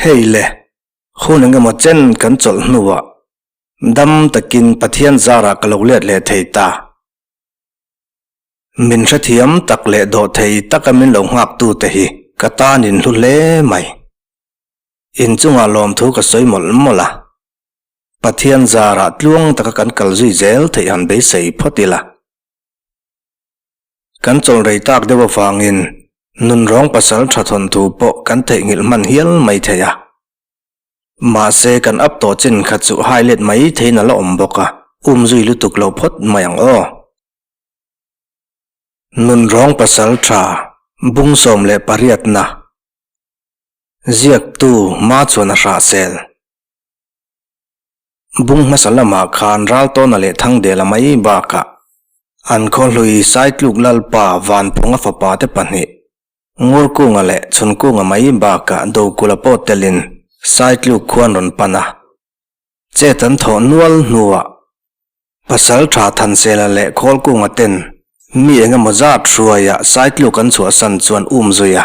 Hei le, hun engemaw chen kan chawlh hnuah dam takin Pathian zarah ka lo let leh thei ta. Min hrethiam tak leh dawh thei taka min lo nghaktu-te hi ka tanin hlu hle mai. Inchungah lawmthu ka sawi mawlh mawlh a, Pathian zarah tluang taka kan kal zui zel theih han beisei phawt ila. Kan chawlrei tak deuh avangin nun rawng pasal tha thawn thu pawh kan theihnghilh hman hial mai thei a. Mahse kan ap tawh chin kha chu hai let mai thei nalh a awm bawk a, um zui lutuk lo phawt mai ang aw. Nun rawng pasal tha bung sawm leh pariatna ziaktu hma chuan a hrahsel. Bung hmasa lamah khan Raltawna leh Thangdela mai bakah an khawhlui Saitluk Lalpa Vanphunga fapa te pahnih, Ngurkunga leh Chhunkunga mai bakah Dokula pawh telin Saitluk khua an rawn pan a. Chet an thawh nual hnuah Pasaltha, Thansela leh Khawlkunga ten mi engemaw zat hruaiah Saitluk an chhuahsan chu an um zui a.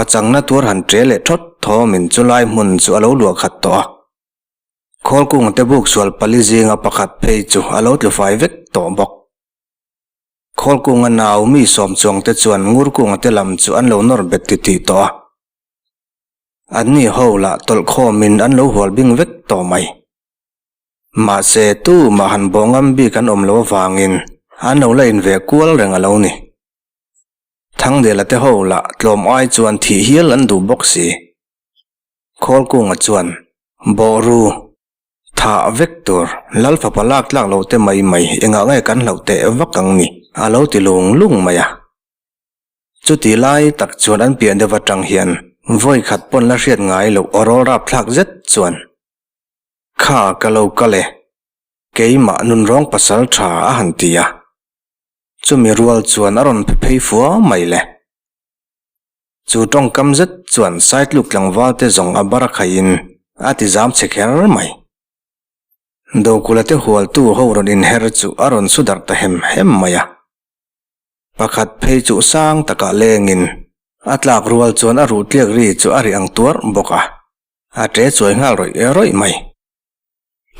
Hmachangna tur han ṭial leh ṭhawt thawm in chu lai hmun chu a lo luah khat tawh a. Khawl kung te buk sual pali zinga pakhat phei chu a lo tlufai vek tawh bawk. Khawl kunga nau mi sawm chuang te chuan ngur kung te lam chu an lo nawr bet ti ti tawh a. An ni ho lah tawlh khawm in an lo hual bing vek tawh mai. Mahse, tu mah han bawh ngam bik an awm lo avang in an lo la in ve kual reng a lo ni. Thangdela te ho lah tlawm ai chuan thih hial an duh bawk si. Khawlkunga chuan, Bawhru, thah vek tur Lal fapa lak tlak loh te mai mai engah nge kan hloh teh vak ang ni? a lo ti lung lung mai a. Chuti lai tak chuan an piah deuh atang hian vawi khat pawn la hriat ngai loh a rawl rap thlak zet chuan, Kha ka lo kal e, keimah nunrawng pasal tha a han ti a, chumi rual chuan a rawn phe phei fua mai le. Chu tawngkam zet chuan saitluk tlangval te zawng a bar khai in a ti zam chhe kher mai. Dokula te hualtu ho rawn in her chu a rawn su darh ta hem hem mai a. Pakhat phei chuh sang takah leng in a tlak rual chuan a ruh tliak ri chu a ri ang tuarh bawk a, a ṭe chuai nghal rawih rawih mai.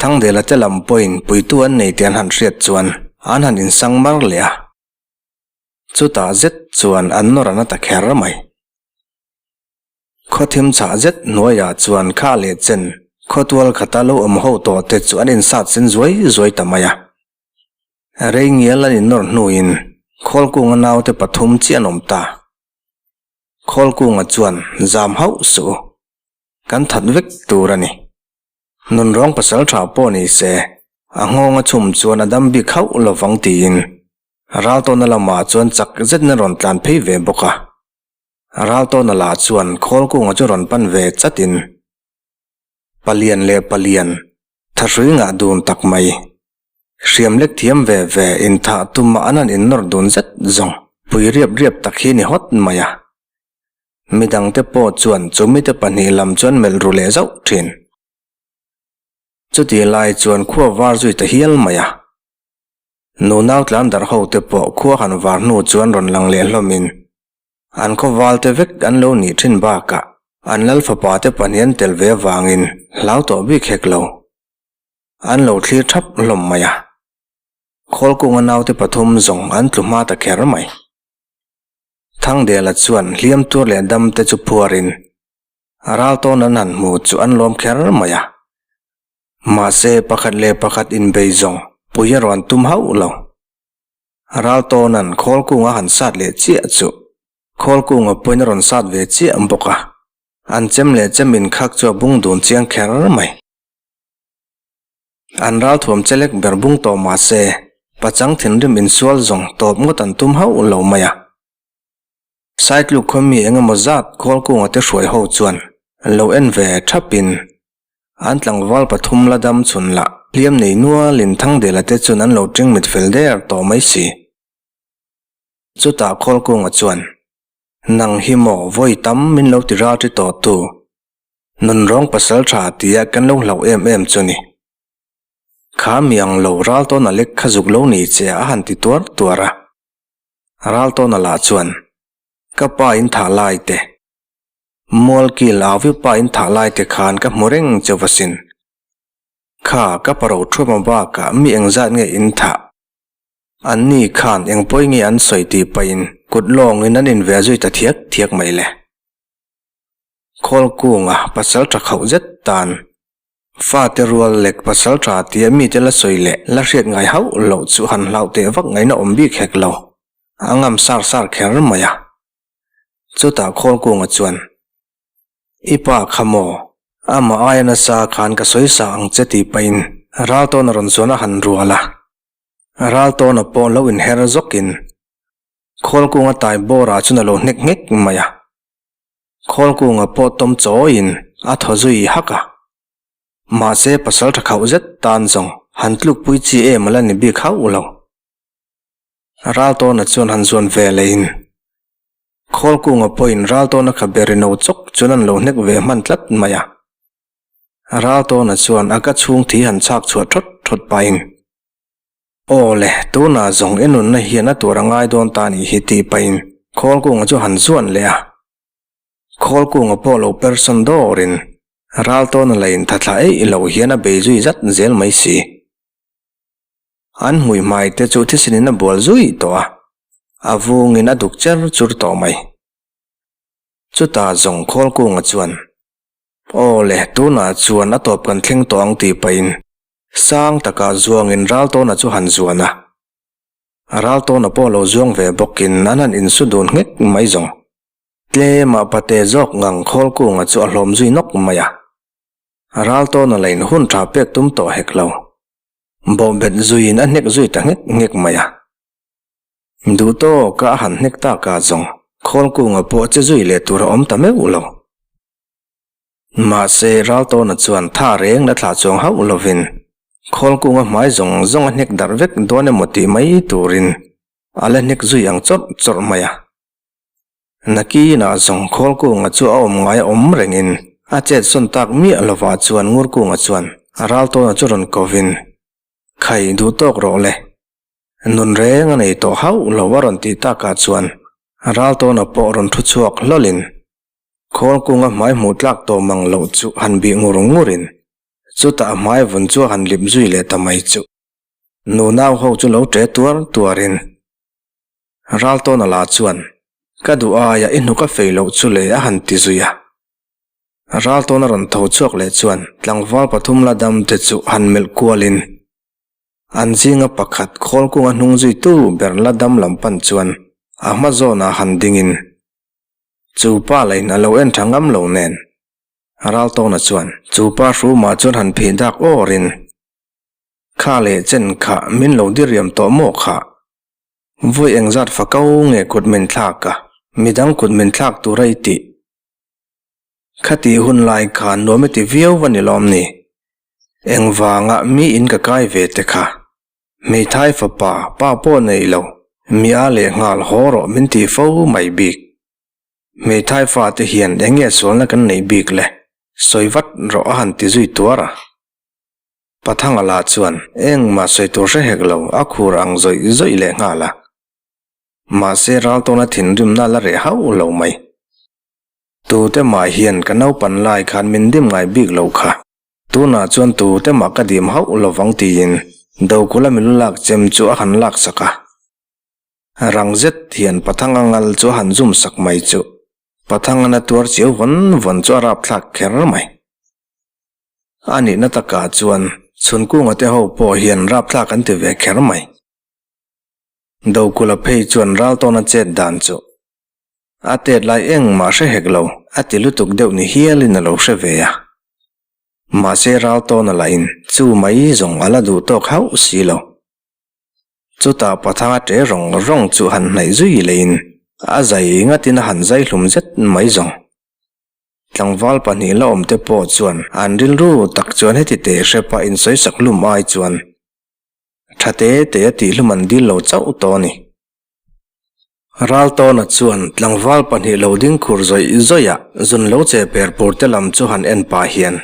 Thangdela te lam pawhin puitu an nei tih an han hriat chuan an han insang mar leh a, chutah zet chuan an nawr an la ta kher mai. Khawthim chhah zet hnuaiah chuan kha leh chen khawtual khata lo awm ho tawh te chu an insat sen zuai zuai ta mai a, rei ngial an innawr hnuin khawlkunga naute pathum chi an awm ta. Khawlkunga chuan zam hauh suh u, kan that vek tur a ni. Nun rawng pasal tha pawh ni se, a nghawng a chum chuan a dam bik hauh lo vang tiin Raltawna lamah chuan chak zetin a rawn tlan phei ve bawk a. Raltawna lah chuan khawl kunga chu rawn pan ve chatin, Palian leh Palian, tha hrui ngah dun tak mai. Hriam lek thiam ve ve, inthah tuma a nan innawr dun zet zawng. Pui riap riap tak hi ni hawt mai a, Mi dangte pawh chuan chu mite pahnih lam chuan melh ru leh zauh thin. Chutih lai chuan khua var zui ta hial mai a. Nu nau tlan darh ho te pawh khua han var hnu chuan rawn lang leh hlawmin an khawvalte vek an lo nih thin bakah an lal fapa te pahnih an tel ve avangin hlau tawh bik hek lo an lo thlir thap hlawm mai a. Khawlkunga naute pathum zawng an tlu hma ta kher mai. Thangdela chuan hliam tur leh dam te chu phuar in a ral tawn an han hmu chu an lawm kher mai a. Mahse pakhat leh pakhat in bei zawng pui a rawn tum hauh lo. A ral tawnan khawl kung a han sat leh chiah chu khawl kung a puain a rawn sat ve chiah bawk a. An chem leh chem in khak chu a bung dun chiang kher mai. An ral thuam che lek ber bung tawh mahse, pachang thinrim insual zawng tawp ngawt an tum hauh lo mai a. Side luk khawi mi eng emaw zat kual kunga te hruai ho chuan an lo en ve thap in an tlangval pathum la dam chhun lah. Hliam nei nual in Thangdela te chuan an lo tring mit fel der tawh mai si. Chutah khawl kunga chuan, Nang hi maw vawi tam min lo ti ralṭi tawh tu, Nun rawng pasal tha tia kan lo hlauh em em chu ni. Kha mi ang lo Raltawn a lek kha zuk lo ni che a han ti tuar tuar a. Raltawn a lah chuan, Ka pa in thah lai te. Mual kil au viau pa in thah lai te khan ka hmu reng che vasin. Kha ka pa ro thuam a bak ah mi eng zat nge in thah? An ni khan eng pawi nge an sawi tih pahin kut lawng in an in ve zui ta thiak thiak mai le. Khawl kunga pasal tha khauh zet tan fate rual lek pasal tha tia mite la sawi leh la hriat ngai hauh loh chu han hlau teh vak ngaina awm bik hek lo. A ngam sar sar kher mai a. Chutah Khawl kunga chuan, I pa kha maw? Amah aia nasa khan ka sawi sa ang che tih pahin Raltawna rawn chuan a han rual a. Raltawna pawh lo in her zawk in Khawl kunga tai bawrah chuan a lo hnek hnek mai a. Khawlkunga pawh tawm chawiin a thaw zui hak a. Mahse pasal tha khauh zet tan zawng han tlukpui chi em ala ni bik hauh lo. Raltawna chuan han zuan ve leiin Khawlkunga pawhin Raltawna kha be ri no chawk chu nan lo hnek ve hman tlat mai a. Raltawna chuan a ka chhungthi han chhak chhuah thawt thawt pahin Aw le, tunah zawng i nunna hian a tur a ngai dawn ta nih hi tih pahin Khawlkunga chu han zuan leh a. Khawlkunga pawh lo person dawrin Raltawna la intha thla eih loh hian a bei zui zat zel mai si. An hmuihmai te chu Thisinin a bual zui tawh a, a vungin a duk cher chur tawh mai. Chutah zawng Khawlkunga chuan, Aw le, tunah chuan a tawp kan thleng tawh ang tih pahin Sang takah zuangin Raltawna chu han zuan a, a Raltawna pawh lo zuang ve bawkin an han insu dun nghek mai zawng. Tlema pate zawk ngang Khawlkunga chu a hlawm zui nawk mai a, a Raltawna la inhun tha pek tum tawh hek lo. Bawhbet zuiin a hnek zui ta nghek nghek mai a. Duhtawka a han hnek takah zawng Khawlkunga pawh che zui leh tur a awm ta meuh lo. Mahse, Raltawna chuan tha reng la thlah chuang hauh lovin, khawl kunga hmai zawng zawng a hnek darh vek dawn emaw tih mai turin a la hnek zui ang chawrh chawrh mai a. Nakinah zawng khawl kunga chu a awm ngai awm rengin a chetsawn tak miah lovah chuan ngur kunga chuan Raltawna chu rawn kovin, Khai duh tawk rawh le, nun reng a nei tawh hauh lo a rawn tih takah chuan Raltawna pawh rawn thu chhuak hlawlin Khawl kunga hmai hmuh tlak tawh mang loh chu han bih ngur ngur in, chutah hmai vun chu han lip zui leh ta mai chuh. Nunau ho chu lo ṭe tuar tuar in, Raltawna la chuan, Ka duh aia i hnu ka fei loh chu le a han ti zui a. Raltawna rawn tho chhuak leh chuan, tlangval pathum la dam te chu han melh kual in, an zinga pakhat khawl kunga hnung zui tu ber la dam lam pan chuan a hma zawnah han ding in, Chu pa la in a lo en tha ngam lo nen. Raltawna chuan, Chu pa hru mah chuan han phih dak aw rin. Kha leh chen kha min lo diriam tawh maw kha. Vawi eng zat fa ko nge kut min thlak a, midang kut min thlak tura i tih? Khati hun lai kha nuam i ti viau va ni lawm ni? Engvanga mi in ka kai ve te kha? Hmeithai fapa, pa pawh nei lo, mi a leh nghal haw rawh min ti fo mai bik. Hmeithai fate hian eng nge sualna kan nei bik le? Sawi vat rawh a han ti zui tuar a. Pathanga la chuan engmah sawi tur hre hek lo a khur ang zawih zawih leh nghal a. Mahse Raltawna thinrimna la reh hauh lo mai. Tute mah hian ka naupan lai khan min dim ngai bik lo kha. Tunah chuan tute mah ka dim hauh lo vang tiin Dokula milu lak chem chu a han lak sak a. Rang zet hian Pathanga ngal chu a han zum sak mai chuh. Pathangana tuar cheu vawn vawn chu a rapthlak kher mai. A nihna takah chuan Chhunkunga te ho pawh hian rapthlak an ti ve kher mai. Dokula phei chuan ral tawna chet dan chuh. A tet lai eng mah hre hek lo, a ti lutuk deuh ni hial in a lo hre ve a. Mahse ral tawn a lahin chu mai zawng a la duh tawk hauh si lo. Chutah Pathanga ṭe rawng rawng chu han hnaih zui leiin a zai ngatin a han zai hlum zet mai zawng. Tlangval pahnih la awm te pawh chuan an rilru tak chuan heti teh hre pah insawisak hlum ai chuan ṭha te te a tih hlum an dil lo chauh tawh a ni. Raltawna chuan tlangval pahnih lo ding khur zawih zawihah zun lo che perpurte lam chu han en pah hian,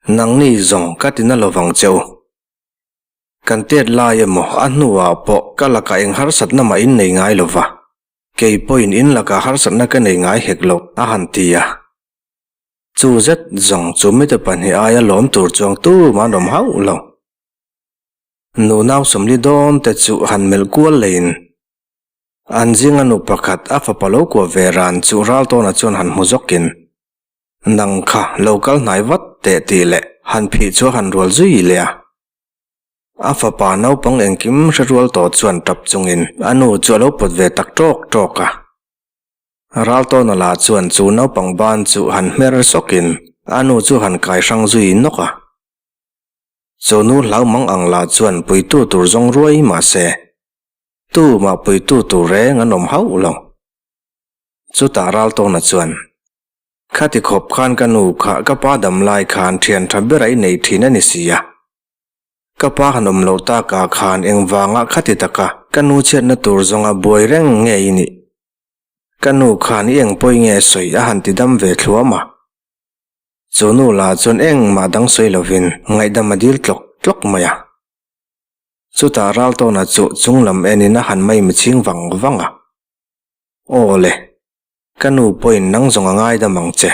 Nangni zawng ka ti na lo vang che u. Kan tet lai emaw a hnuah pawh ka lakah eng harsatna mah in nei ngai lo va, kei pawhin in lakah harsatna ka nei ngai hek lo, a han ti a. Chu zet zawng chu mite pahnih aia lawm tur chuang tu mah'n awm hauh lo. Nu nau sawmli dawn te chu han melh kual leh in an zinga nu pakhat a fapa lo kuah ve ran chu ral tawnah chuan han hmu zawk in nang kha lo kal hnai vat teh tih leh han phih chu a han rual zui leh a. A fapa naupang engkim hre rual tawh chuan tap chung in a nu chu a lo pawt ve tak tawk tawk a. Ral tawna lah chuan chu naupang ban chu han hmer sawk in a nu chu han kai hrang zui nawk a. Chu nu hlaumang ang lah chuan puitu tur zawng ruai mah se, tu mah puitu tur reng an awm hauh lo. Chutah Raltawna chuan, Khati khawp khan ka nu kha ka pa dam lai khan thian tha bera i neih thin a ni si a. Ka pa han awm loh takah khan engvanga khati taka ka nu chhiatna tur zawnga buai reng nge i nih? Ka nu khan i engpawih nge sawi a han tidam ve thluah mah. Chu nu la chuan engmah dang sawi lovin ngaihdam a dil tlawk tlawk mai a. Chutah Raltawna chu chung lam en in a han mai mi ching vang vang a, Aw le, ka nu pawhin nang zawng a ngaidam ang che.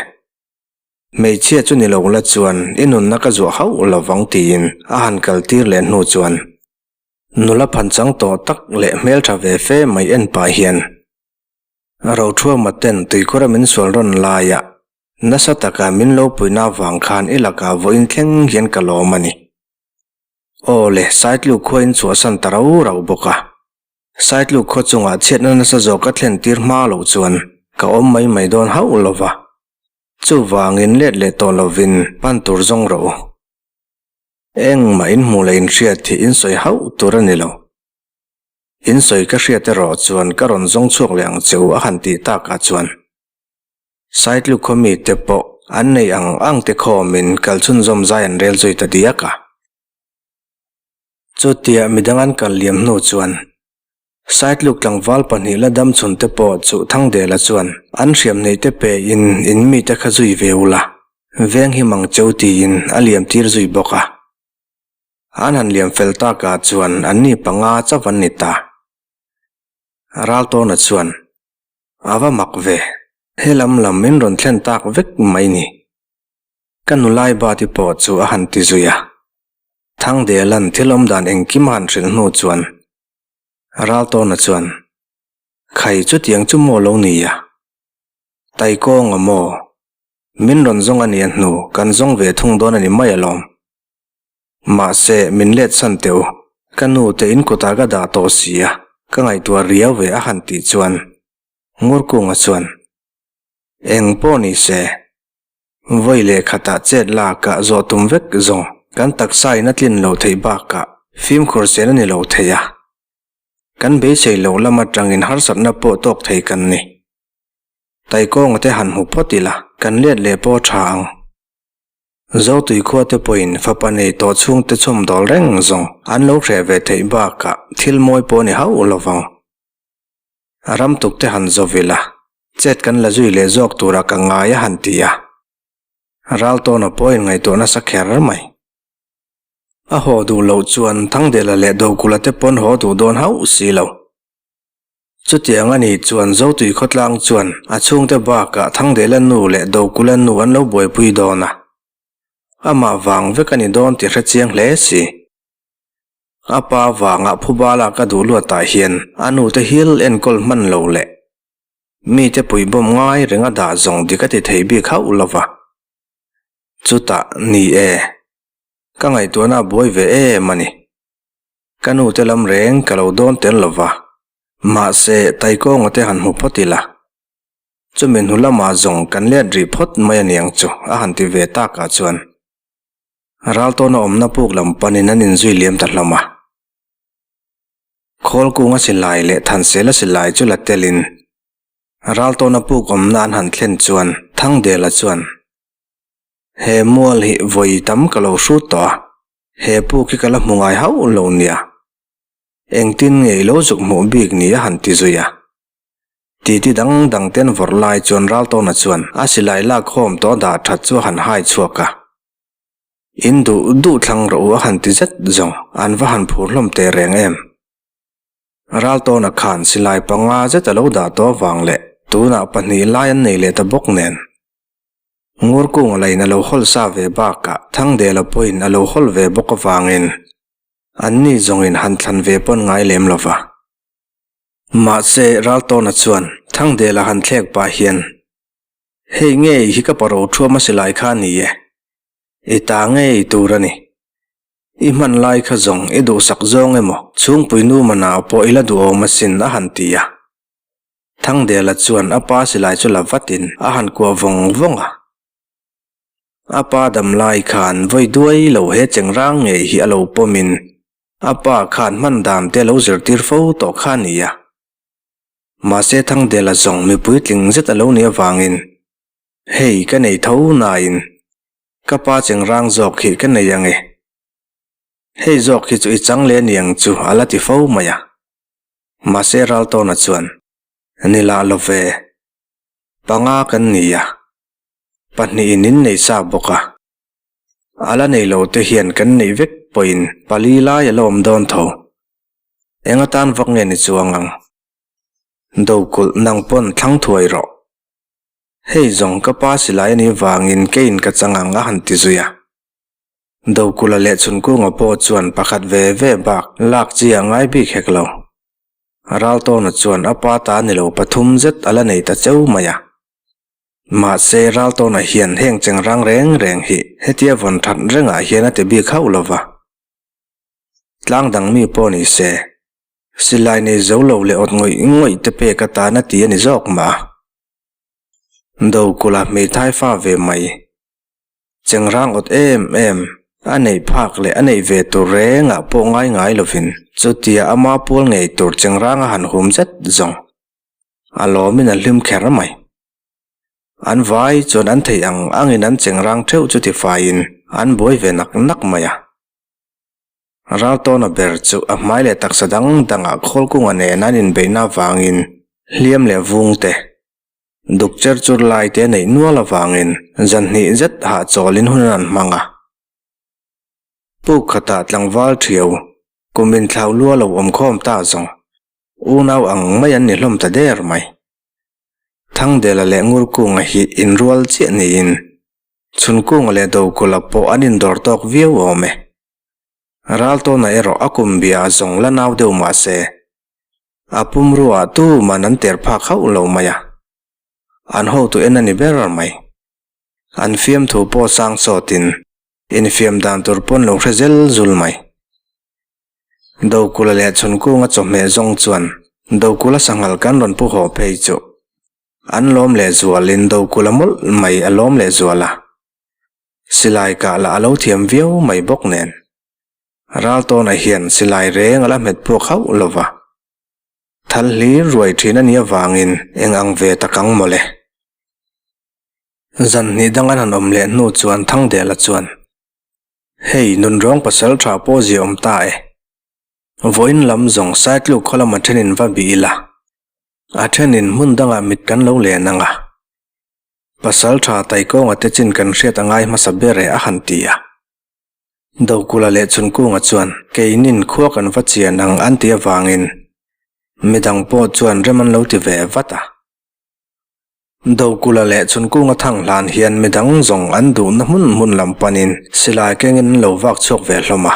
Hmeichhia chu ni lo la chuan i nunna ka zuah hauh lo vang tiin a han kal tir leh hnu chuan nula phan chang tawh tak leh hmeltha ve fe mai en pah hian, Rothuama ten tuikura min sual rawn laiah Nasa taka min lo puihna avang khan i lakah vawiin thleng hian ka lawm a ni. Aw le, Saitlu khuain in chhuahsan ta rau rau bawk a. Saitlu khua chungah chhiatna nasa zawk a thlen tir hma loh chuan ka awm mai mai dawn hauh lo va. Chuvangin let leh tawh lovin pan tur zawng rawh u. Engmah in hmuh leh in hriat hi in sawi hauh tur a ni lo. In sawi ka hriat erawh chuan ka rawn zawng chhuak leh ang che u a han tih takah chuan. Saitluk khaw mite pawh an neih ang ang te khawmin kal chhunzawm zai an rel zawih ta diak a. Chutiah midang an kal liam hnu chuan Saitluk tlangval pahnih la dam chhun te pawh chuh Thangdela chuan an hriam hneih te pehin in mite kha zui ve ula veng hi mang cheu tiin a liam tir zui bawk a. An han liam fel takah chuan anni panga chauh an ni ta. Raltawna chuan a va mak ve. He lam lam min rawn thlen tak vek mai ni. Ka nulai bati pawh chu a han ti zui a, Thangdelan thil awm dan engkim a han hrilh hnu chuan Raltawna chuan, Khai chutiang chu maw lo ni a? Taikawng a maw? Min rawn zawng a nia hnu kan zawng ve thung dawn a ni mai alawm. Mahse, min let chhan teu. Ka nu te in kutah ka dah tawh si a, ka ngaihtuah riau ve a han tih chuan Ngurkunga chuan, Eng pawh ni se, vawi leh khatah chet lakah zawh tum vek zawng kan taksa in a tlin lo theih bakah fimkhur sen a ni lo thei a, kan beisei loh lam atangin harsatna pawh tawk thei kan ni. Taikawngate han hmu phawt ila kan let leh pawh tha ang. Zotui khuate pawhin fapa nei tawh chhung te chhawm dawl reng zawng an lo hreh ve theih bakah thil mawi pawh a ni hauh lo vang. A ram tuk te han zawh ila, chet kan la zui leh zawk tura ka ngai a han ti a. Raltawna pawhin ngaihtuah nasa kher mai. A haw duh loh chuan Thangdela leh Dokula te pawn haw duh dawn hauh si lo. Chutiang a nih chuan Zotui khawtlang chuan a chhungte bakah Thangdela nu leh Dokula nu an lo buaipui dawn a, amah vang vek a ni dawn tih hre chiang hle si. A pa vangah phubala ka duh luatah hian a nu te hil enkawl hman lo leh mite puih bawmh ngai reng a dah zawng dik a ti thei bik hauh lo va. Chutah ni e, ka ngaihtuahna a buai ve em a ni. Ka nu te lam reng ka lo dawn tel lo va, mahse Taikawnga te han hmu phawt ila, chumi hnu lamah zawng kan let rih phawt mai a niang chu, a han ti ve tak ah chuan Raltawna awmna puk lam panin an in zui liam ta hlawm a. Khawlkung a silai leh Thansel a silai chu la tel in Raltawna puk awmna an han thlen chuan Thangdela chuan, He mual hi vawi tam ka lo hrut tawh a, He pu khi ka la hmu ngai hauh lo nia, engtin ngei lo zuk hmuh bik ni a han ti zui a, titi dang dang ten vawrh lai chuan Raltawna chuan a silai lakhawm tawh dah that chu a han hai chhuak a, in duh duh thlang rawh u a han ti zet zawng, an va han phur hlawm teh reng em? Raltawna khan silai panga zet a lo dah tawh vang leh tunah pahnih lai an nei leh ta bawk nen, Ngurkung lain a lo hawl sa ve bakah Thangdela pawhin a lo hawl ve bawk avangin anni zawngin han thlan ve pawn ngai lem lo va. Mahse, Raltawna chuan Thangdela han thlek pah hian, Hei ngei hi ka paro thuam a si lai kha ni e, i ta ngei tur a ni. I hmanlai kha zawng i duhsak zawng emaw chhungpui nu manau pawh i la duhawm asin a han ti a. Thangdela chuan a pa silai chu la vatin a han kuah vawng vawng a. A pa dam lai khan vawi duai lo he chengrang ngei hi a lo pawmin a pa khan hman dam te a lo zirtir fo tawh kha ni a. Mahse Thangdela zawng mipui tling zet a lo nih avangin hei ka nei tho nain ka pa chengrang zawk hi ka nei ange. Hei zawk hi chu i changle niang chu a la ti fo mai a. Mahse Raltawnah chuan, Ni lah lo ve, panga kan ni a, pahnih in in nei sa bawk a, a la nei lo te hian kan neih vek pawhin pali lai a la awm dawn tho, eng atan vak nge ni chuang ang, do kulh nang pawn thlang thuai rawh, hei zawng ka pa silai a nih vangin keiin ka chang ang a han ti zui a. Dokula leh Chunkunga pawh chuan pakhat ve ve bak lak chi a ngai bik hek lo. Raltawna chuan a pa ta ni lo pathum zet a la nei ta cheu mai a. Mahse Raltawna hian heng chengrang reng reng hi hetia vawn that rengah hian a ti bik hauh lo va. Tlang dang mi pawh ni se, silai nei zo lo leh awt ngawih ngawih te pek atan a ti a ni zawk mah. Dokula hmei thai fa ve mai. chengrang awt em em, a neih phak leh a neih ve tur rengah pawh ngai ngai lovin chutia ama pual ngei tur chengranga han hum zet zawng a lawmin a hlim kher mai. An vai chuan an theih ang angin an chengrang theuh chu tifaiin an buai ve nak nak mai a. Raltawna ber chu a hmai leh taksa dang dangah khawl kunga nen an inbeihna avangin hliam leh vungte Doctor chu lai te neih nual avangin zanhnih zet hah chawlin hun a rawn hmang a. Puk khatah tlangval thiau, kum inthlau lua lo awm khawm ta zawng unau ang mai an ni hlawm ta der mai. Thangdela leh Ngurkunga hi inrual chiah niin Chhunkunga leh Dokula pawh an indawr tawk viau awm e. Raltawna erawh a kum bia a zawng la nau deuh mahse a pum ruah tuman an ter phak hauh lo mai a, an hotu en a ni ber mai. An fiam thu pawh sang sawt in infiam dan tur pawn lo hre zel zul mai. Dokula leh Chhunkunga chawhmeh zawng chuan Dokula sanghal kan rawn pu haw phei chu an lawm leh zual in Dokula mawlh mai a lawm leh zual a, silai kah lah a lo thiam viau mai bawk nen. Ral tawnah hian silai reng a la hmet puak hauh lo va. Thal hlir ruai thin a nih avangin eng ang ve tak ang mawle. Zan hnih dang an han awm leh hnu chuan Thangdela chuan, Hei, nun rawng pasal tha pawh zia awm ta e. Vawiin lam zawng Saitluk khawlam a thenin va bih ila. A thenin hmun dangah mit kan lo len ang a. Pasal tha taikawnga te chin kan hriat a ngai hmasa ber e a han ti a. Dokula leh Chunkunga chuan keinin khua kan va chian ang an tih avangin midang pawh chuan rem an lo ti ve vat a. Dokula leh Chunkunga Thanglan hian midang zawng an duhna hmun hmun lam panin silai kengin an lo vak chhuak ve hlawm a.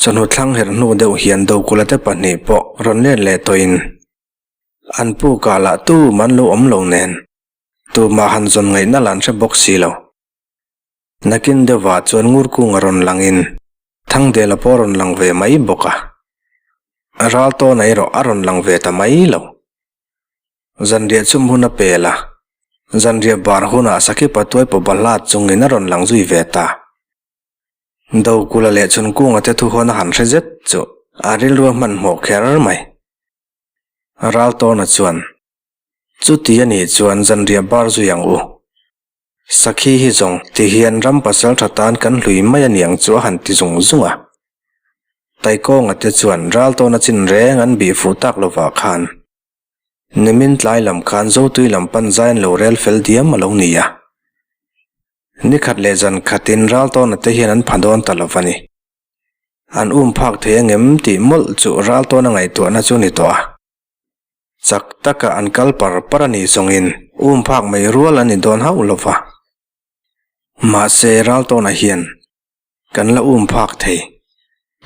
Chawhnu thlang herh hnu deuh hian Dokula te pahnih pawh rawn let leh tawhin an pu kah lah tum an lo awm lo nen, tumah han zawn ngaihna lah an hre bawk si lo. Nakin deuhva chuan ngur kung a rawn lang in Thangdela pawh a rawn lang ve mai bawk a, Raltawn a erawh a rawn lang ve ta mai lo. Zanriah chum hun a pel a, zanriah bar hunah Sakipa Tuaipo Balhla chungin a rawn lang zui ve ta. Do kula leh chhun kunga te thuhawn a han hre zet chu a rilru hmanhmawh kher mai. Raltawna chuan, Chuti a nih chuan zanriah bar zui ang u, Sakhi hi zawng tihian ram pasal tha tan kan hlui mai a niang chu a han ti zung zung a. Taikawnga te chuan ral tawna chin reng an bih fuh tak lovah khan nimin tlai lam khan zotui lam pan zaiin lo rel fel diam a lo ni a. Ni khat leh zan khatin ral tawna te hian an pha dawn ta lova ni. An um phak thei a ngem tih mawlh chu ral tawna ngaihtuahna chu ni tawh a. chak taka an kal par par a nih zawngin um phak mai rual an ni dawn hauh lo va. Mahse ral tawnah hian kan la um phak thei.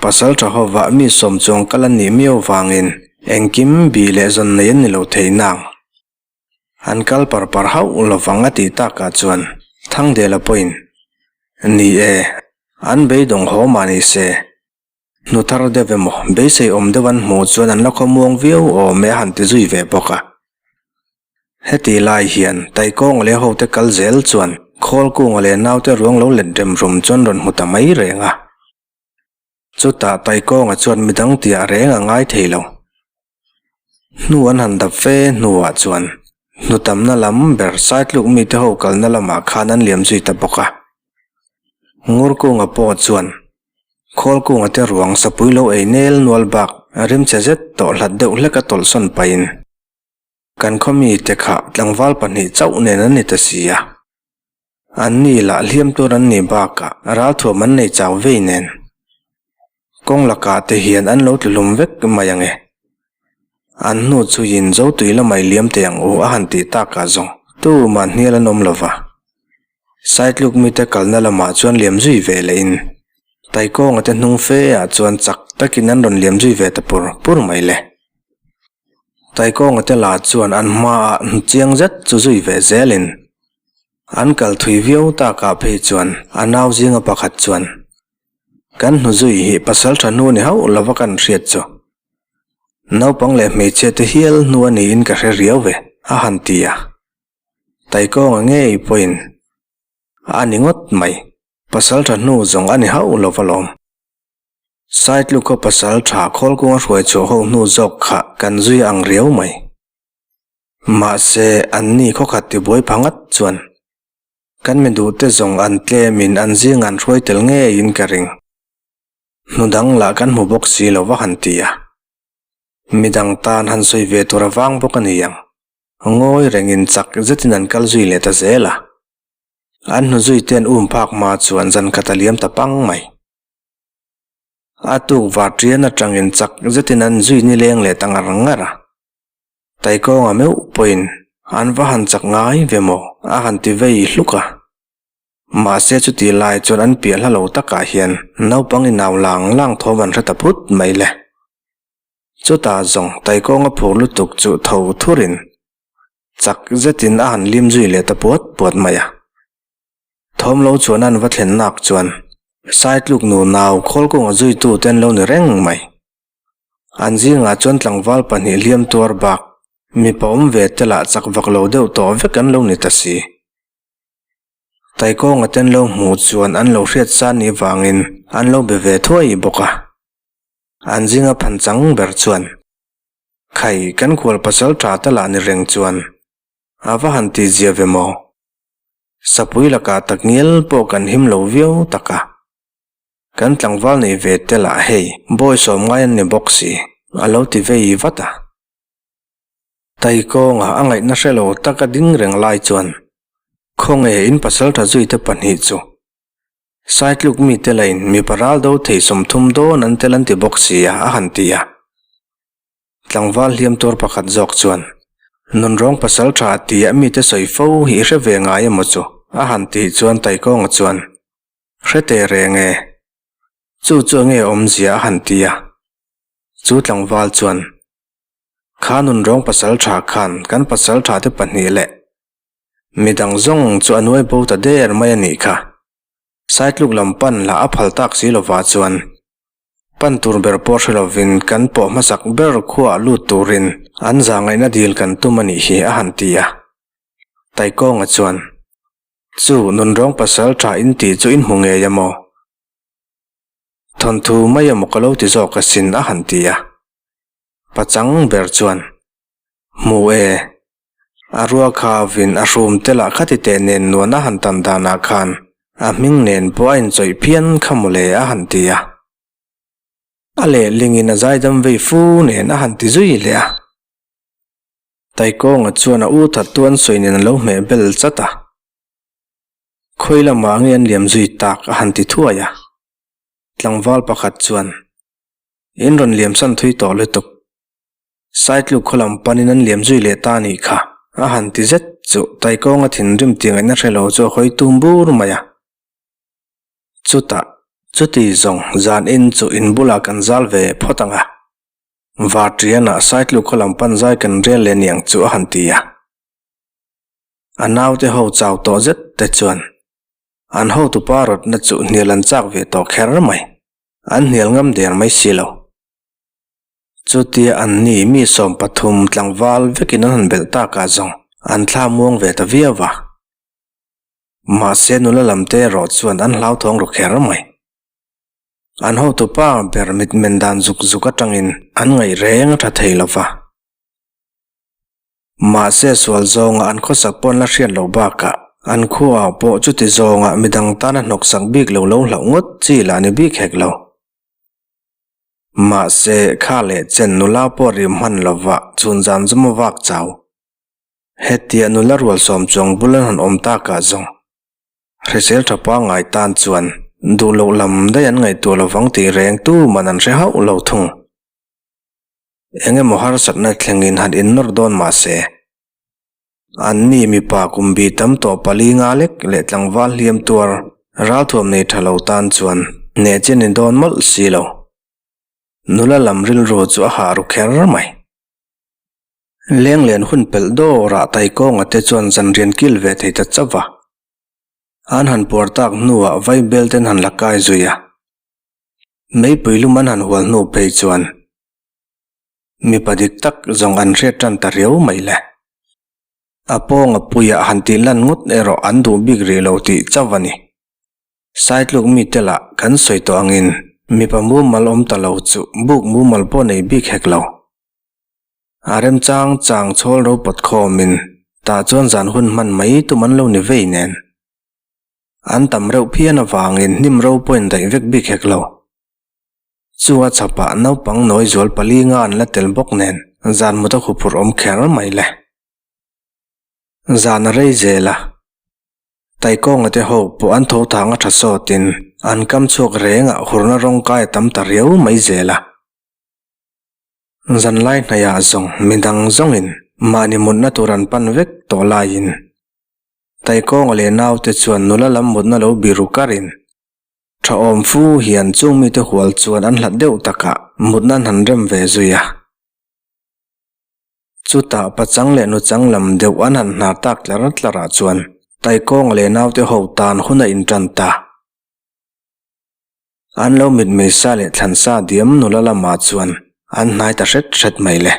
Pasal tha ho vah mi sawm chuang kal an nih miau vangin engkim bih leh zawn nei an ni lo thei nang. An kal par par hauh lo vang a tih takah chuan Thangdela pawhin, Ni e, an beidawng haw mah ni se. Hnu thar deuh emaw, beisei awm deuh an hmuh chuan an la khawmuang viau awm e a han ti zui ve bawk a. Heti lai hian Taikawnga leh hote kal zel chuan Khawlkunga leh naute ruang lo let rem rum chuan rawn hmu ta mai reng a. Chutah Taikawnga chuan midang tia reng a ngai thei lo. Hnu an han dap fe hnuah chuan hnutamna lam ber sai tluk mite ho kalna lamah khan an liam zui ta bawk a. Ngur kunga pawh chuan khawl kunga te ruang sapui lo ei nel nual bak rim che zet tawh hlat deuh hleka tawlhsawn pahin, Kan khawmi te kha tlangval pahnih chauh nen an ni ta si a, an ni lah hliam tur an nih bakah ralthuam an nei chau vei nen. Kawng lakah te hian an lo tluhlum vek mai ang e. An hnu chuiin zo tui lamah i liam thei ang u a han tih takah zawng tu mah hnial an awm lo va. Saitluk mite kalna lamah chuan liam zui ve leh in Taikawnga te hnung fe ah chuan chak takin an rawn liam zui ve ta pur pur mai le. Taikawnga te lah chuan an hma ah hnu chiang zet chu zui ve zel in an kal thui viau tak ah phei chuan a nau zinga pakhat chuan Kan hnu zui hi pasal tha hnu ni hauh lova kan hriat chu naupang leh hmeichhia te hial hnu a ni in ka hre riau ve a han ti a. Taikawnga ngei pawhin a ni ngawt mai. Pasalṭha hnu zawng a ni hauh lo va lawm. Saitluka pasalṭha khawlkunga hruai chhuah ho hnu zawk kha kan zui a ang riau mai. Mahse, anni khawkhat ti buai pha ngat chuan kan mi duhte zawng an tlemin an zinga an hruai tel ngeiin ka ring. Hnudang lah kan hmu bawk si lo va han ti a. Midang tan han sawi ve tur a vang bawk a ni ang. Ngawi rengin chak zetin an kal zui leh ta zel a. An hnu zui te an um phak hma chuan zan khat a liam ta pang mai. A tukvar tian atangin chak zetin an zui ni leng leh ta ngar ngar a. Taikawnga meuh pawhin an va han chak ngai ve maw a han ti vei hluk a. Mahse chutih lai chuan an piah hla lo takah hian naupang inau lang lang thawm an hre ta phut mai le. Chutah zawng Taikawnga phur lutuk chu tho thurin chak zetin a han lim zui leh ta puat puat mai a. Thawmlo chuan a an va thlennak chuan Saitluk nu nau Khawlkawnga zuitu ten lo ni reng mai. An zingah chuan tlangval pahnih hliam tuar bak mipa awm ve te lah chak vak lo deuh tawh vek an lo ni ta si. Taikawnga ten lo hmuh chuan an lo hriat san nih vangin an lo be ve thuai bawk a. An zing a phan chang ber chuan, Khai, kan kual pasal tha ta lah ni reng chuan a va han ti zia ve maw? Sapui laka takngial pawh kan him lo viau tak a, kan tlangval neih ve te lah hei. Bawi sawm ngai an ni bawk si, a lo ti vei vat a. Tahi kawnga a ngaihna hre lo tak a ding reng lai chuan, Khawnge in pasal tha zui te pahnih chu Sai tluk mite lahin mipa ral do thei sawm thum dawn an tel an ti bawk sia a han ti a. Tlangval hliam tur pakhat zawk chuan, Nun rawng pasal tha a ti a mite sawi fo hi hre ve ngai emaw chu? a han tih chuan Taikawnga chuan, Hre teh reng e. Chu chu ange awmzia a han ti a. Chu tlangval chuan, Kha nun rawng pasal tha khan kan pasal thate pahnih leh mi dang zawng chu a nuai bo ta der mai a nih kha. Saitluk lam pan lah a phal tak si lova chuan pan tur ber pawh hre lovin kan pawh hmasak ber khuaa lut turin an za ngaihna dil kan tum a nih hi a han ti a. Taikawnga chuan, Chu nun rawng pasal tha in tih chu in hmu ngei a maw? Thawnthu mai a maw ka lo ti zawk asin a han ti a. Pachang ber chuan, Hmu e, A rua kha vin a hrum te lah kha tite nen nuan a han tan danah khan a hming nen pawh a inchawih phian kha maw le a han ti a. A lehlingin a zaidam vei fu nen a han ti zui leh a. Taikawnga chuan a u that tu an sawi nen a lo hmeh bel chat a. Khawi lamah nge an liam zui tak a han ti thuai a. Tlangval pakhat chuan, In rawn liam san thui tawh lutuk. Saitluk khaw lam panin an liam zui leh ta nih kha, a han ti zet chu Taikawnga thinrim tiangaihna hrelo chu a hawi tum bur mai a. Chutah, chuti zawng zan in chu in bulah kan zal ve phawt ang a, var tianah Saitluk khaw lam panzai kan rial leh niang chu a han ti a. A naute ho chau tawh zet te chuan an hotu pa rawtna chu hnial an chak ve tawh kher mai, an hnial ngam der mai si lo. Chutia an ni mi sawm pathum tlangval vekin an han belh tak ah zawng an thla muang ve ta viau a. Mahse nula lam te erawh chuan an hlauthawng ru kher mai. An hotu pa ber mitmen dan zuk zuk atangin an ngaih reng a tha thei lo va. Mahse sual zawng ah an khawsak pawh an la hriat loh bak ah an khua ah pawh chuti zawng ah midang tan a hnawksak bik lo lo hlauh ngawt chi lah ni bik hek lo. Mahse, kha leh chen nula pawh ri hman lovah chhun zam zam a vak chau. Hetiah nula rual sawm chuang bul an han awm takah zawng hrisel tha pangai tan chuan duh loh lam daih an ngaihtuah lovang tih reng tuman an hre hauh lo thung. Engemaw harsatna thlengin han innawr dawn mahse, An ni mipa kum bi tam tawh pali nga lek leh tlangval hliam tuar ral thuam nei tha lo tan chuan neh che ni dawn mawlh si lo. Nula lam rilru chu a hah ru kher mai. Lenglen hun pelh dawrah Taikawnga te chuan zanrian kil ve thei ta chauh a. An han puar tak hnuah vai bel ten han la kai zui a. Meipui lum an han hual hnu phei chuan. mipa dik tak zawng an hriat tan ta riau mai le. A pawnga puiah han tih lan ngawt erawh an duh bik rih lo tih chauh a ni. Sai tluk mi te lah kan sawi tawh angin mipa mumal awm ta lo chu buk mumal pawh nei bik hek lo. A rem chang chang chhawl ro pawt khawm in tah chuan zan hun hman mai tum an lo ni vei nen. An tam reuh phian avangin hnim ro pawhin daih vek bik hek lo. Chung a chhap ah naupang nawi zual pali nga an la tel bawk nen zan muta khuh phurh awm kher mai le. Zan a rei zel a. Taikawnga te ho pawh an tho thang a tha sawt in an kam chhuak reng ah hurna rawng kai a tam ta riau mai zel a. Zan lai hnaih ah zawng midang zawng in mahni mutna tur an pan vek tawh lai in Taikawnga leh nau te chuan nula lam mutna lo biru kar in Tha awm fu hian chung mite hual chuan an hlat deuh takah mutna an han rem ve zui a. Chutah pachang leh nuchang lam deuh an han hna tak tlar tlarah chuan Taikawng leh naute ho tan hun a intan ta. An lo mitmei sa leh thlan sa diam nula lamah chuan an hnai ta hret hret mai le.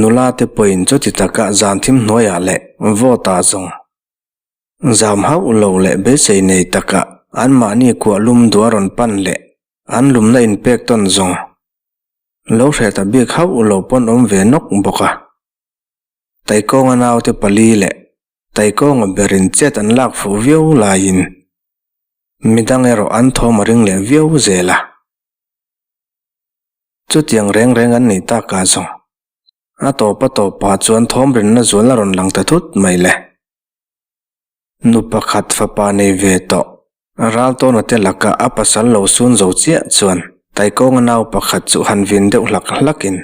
Nula te pawhin chuti takah zan thim hnuaiah leh vote-ah zawng Zam hauh lo leh besei nei takah anmahni kuah lum dua rawn pan leh an lumna inpek tawn zawng lo hreh ta bik hauh lo pawn awm ve nawk bawk a. Taikawnga naute pali leh Taikawnga berin chet an lak fuh viau laiin midang erawh an thawm a ring leh viau zel a. Chutiang reng reng an nih takah zawng a tawpa tawp pa chuan thawmrinna zualna rawn lang ta thut mai le. Nu pakhat fapa nei ve tawh. Ral tawna te lakah a pasal lo sun zo chiah chuan Taikawnga nau pakhat chu han vin deuh hlak hlakin,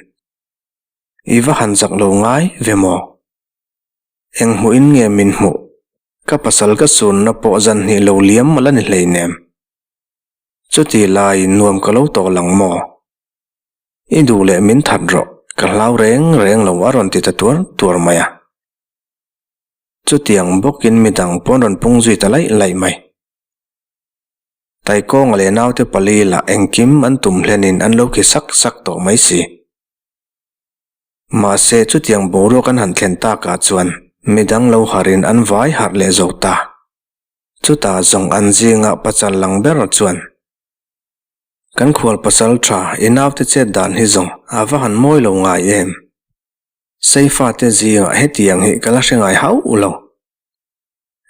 I va han zak lo ngai ve maw? Eng hmuhin nge min hmuh? Ka pasal ka sunna pawh zan hnih lo liam mah la ni hleinem. Chuti laiin nuam ka lo tawh lang maw? I duh leh min that rawh, ka hlau reng reng lo a rawn ti ta tuar tuar mai a. Chutiang bawkin midang pawn rawn pung zui ta laih laih mai. Taikawng leh naute pali lah engkim an tum hlenin an lo khi sak sak tawh mai si. Mahse, chutiang boruak an han thlen takah chuan midang lo harhin an vai harh leh zawk ta. Chutah zawng an zingah pachal lang ber chuan kan khualpasal tha i naute chet dan hi zawng a va han mawi lo ngai em! Saifate zingah hetiang hi ka la hre ngai hauh lo.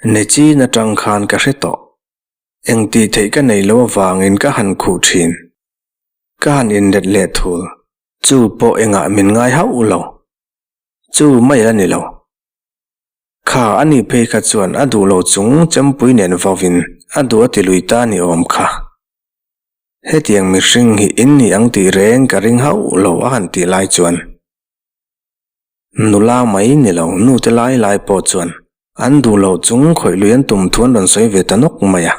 Nechin atang khan ka hre tawh. Engtih theih ka nei lo avangin ka han khuh thin. Ka han inlet leh thul chu pawh engah min ngai hauh lo. Chu mai a ni lo. Kha a ni phei kha chuan a duh lo chung chempui nen vovin a duh a ti lui ta ni awm kha. Hetiang mihring hi in ni ang tih reng ka ring hauh lo a han tih lai chuan. Nula mai ni lo nu te lai lai pawh chuan an duh loh chung khawih lui an tum thu an rawn sawi ve ta nawk mai a.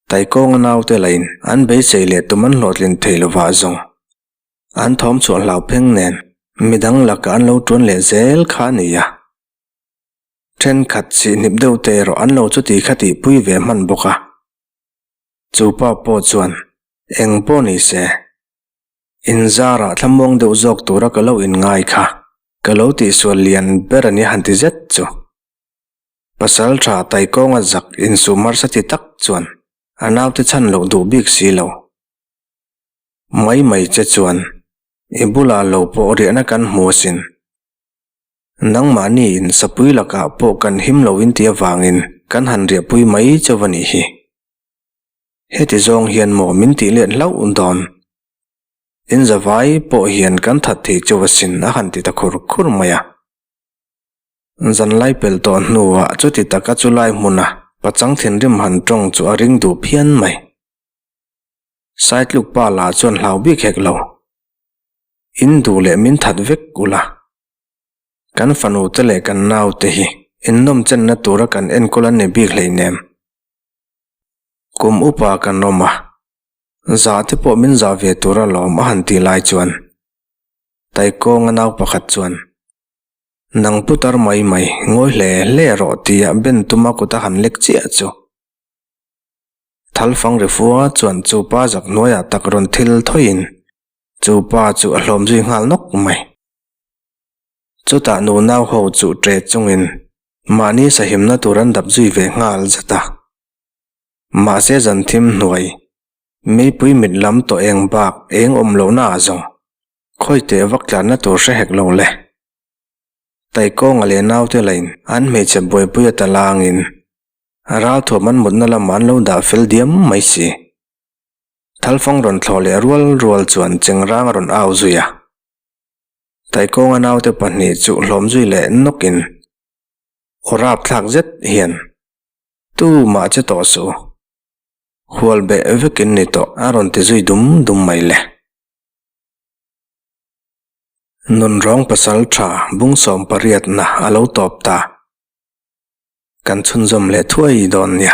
Taikawnga naute lahin an beisei leh tum an hlawhtlin thei lovah zawng an thawm chhuah hlau pheng nen midang lakah an lo tuan leh zel kha a ni a. Thenkhat sihnip deuh te erawh an lo chuti kha tih pui ve hman bawk a. Chu pa pawh chuan, Eng pawh ni se. Inzara thlamuang deuh zawk tura ka lo inngai kha, ka lo tihsual lian ber a nia han ti zet chu. Pasalṭha Taikawnga zak insuh hmarsa ti tak chuan a naute chhan loh duh bik si lo. Maimai che chuan i bula lo pawh riahna kan hmu asin. Nangmahni in sapui lakah pawh kan him lo inti avangin kan han riahpui mai chauh a nih hi. Heti zawng hian maw min tih let hlauh dawn. In zavai pawh hian kan that thei chuvasin a han ti ta khur khur mai a. Zanlai pel tawh hnuah chuti tak a chulai hmuna pachang thinrim han tawng chu a ring duh phian mai. Sai tluk pa la chuan hlau bik hek lo. In duh leh min that vek ula. Kan fanute leh kan naute hi innawm chenna tura kan enkawl an ni bik hleinem. kum upa kan awm a, zah te pawh min zah ve tur a lawm a han tih lai chuan Taikawnga nau pakhat chuan, Nang putar mai mai, ngawi hle hle rawh tia Ben tuma kut a han lek chiah chu. Thalfang ri fua chuan chu pa zak hnuaiah tak rawn thil thawiin chu pa chu a hlawm zui nghal nawk mai. Chutah nu nau ho chu ṭe chungin mahni sahimna tur an dap zui ve nghal zet a. Mahse zanthim hnuai, meipui mit lam tawh eng bak eng awm lonaah zawng khawi teh vak tlanna tur hre hek lo le. Taikawnga leh naute lahin an hmeichhe buaipuia talangin ral thuam an mutna lamah an lo dah fel diam mai si. Thalfang rawn thlawh leh rual rual chuan chengrang a rawn au zui a. Taikawnga naute pahnih chu hlawmzui leh nawk in aw rap thlak zet hian, Tu mah che tawh suh u, hual beh vek in ni tawh a rawn ti zui dum dum mai le. Nun rawng pasal tha bung sawm pariat na a lo tawp ta, kan chhunzawm leh thuai dawn nia.